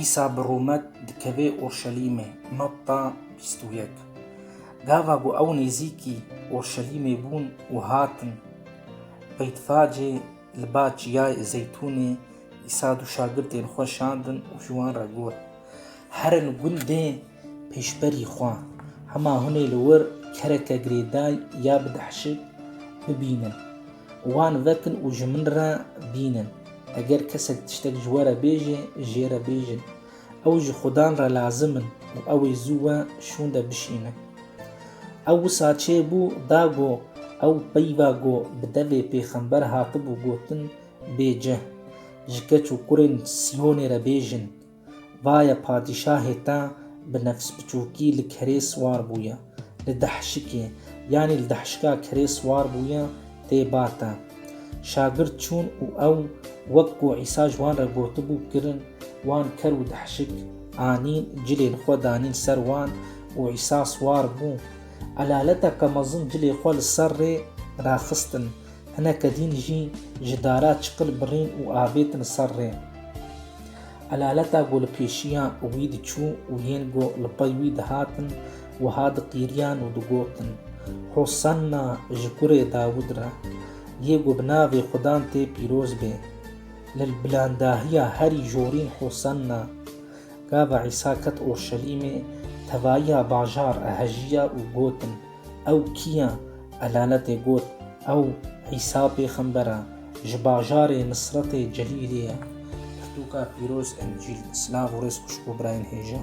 Îsa bi rûmet dikevê Urşelîmê, Matta bîst û yek. Gava ku ew nêzîkî Urşelîmê bûn û hatin Beytfacê li ba Çiyayê Zeytûnê Îsa du şagirtên xwe şandin û ji wan re got, Herin gundê Pêşberî xwe, hema hûn ê li wir kereke girêday ya bi dehşik bibînin. Wan vekin û ji min re bînin. Eger kesek tiştek ji we re bêje, jê re bêjin. Ew ji xudan re lazim in û ew ê zû we şûnde bişînin. Ew wisa çê bû, da go, ew peyva go bi devê pêxember hatibû gotin, Bê cih, ji keç û kurên Sîyonê re bêjin, Vaye padîşahê te bi nefsbiçûkî li kerê siwar bûye, li dehşikê, yanî li dehşika kerê siwar bûye tê ba te. Şagird çûn û ew wek ku Îsa ji wan re gotibû kirin, wan ker û dehşik anîn, cilên xwe danîn ser wan û Îsa siwar bû. Elalete ke mezin cilê xwe li ser rê raxistin. Hinek kedîn jî ji dara çiqil birîn û avêtin ser rê. Elaleta ku li pêşiya wî diçû û yên ku li pey wî dihatin wiha diqîriyan û digotin, Hosanna ji kurê Dawûd re! Yê ku bi navê Xudan tê pîroz bê! Li bilandahiya herî jorîn Hosanna! Gava Îsa ket Urşelîmê, tevayiya bajar e hejiya û gotin, Ew kî ye? Elaletê got, Ew Îsa pêxember e, ji bajarê Nisretê Celîlê ye. Pirtûka pîroz Encîl, silav û rêz xwişk û birayên hêja.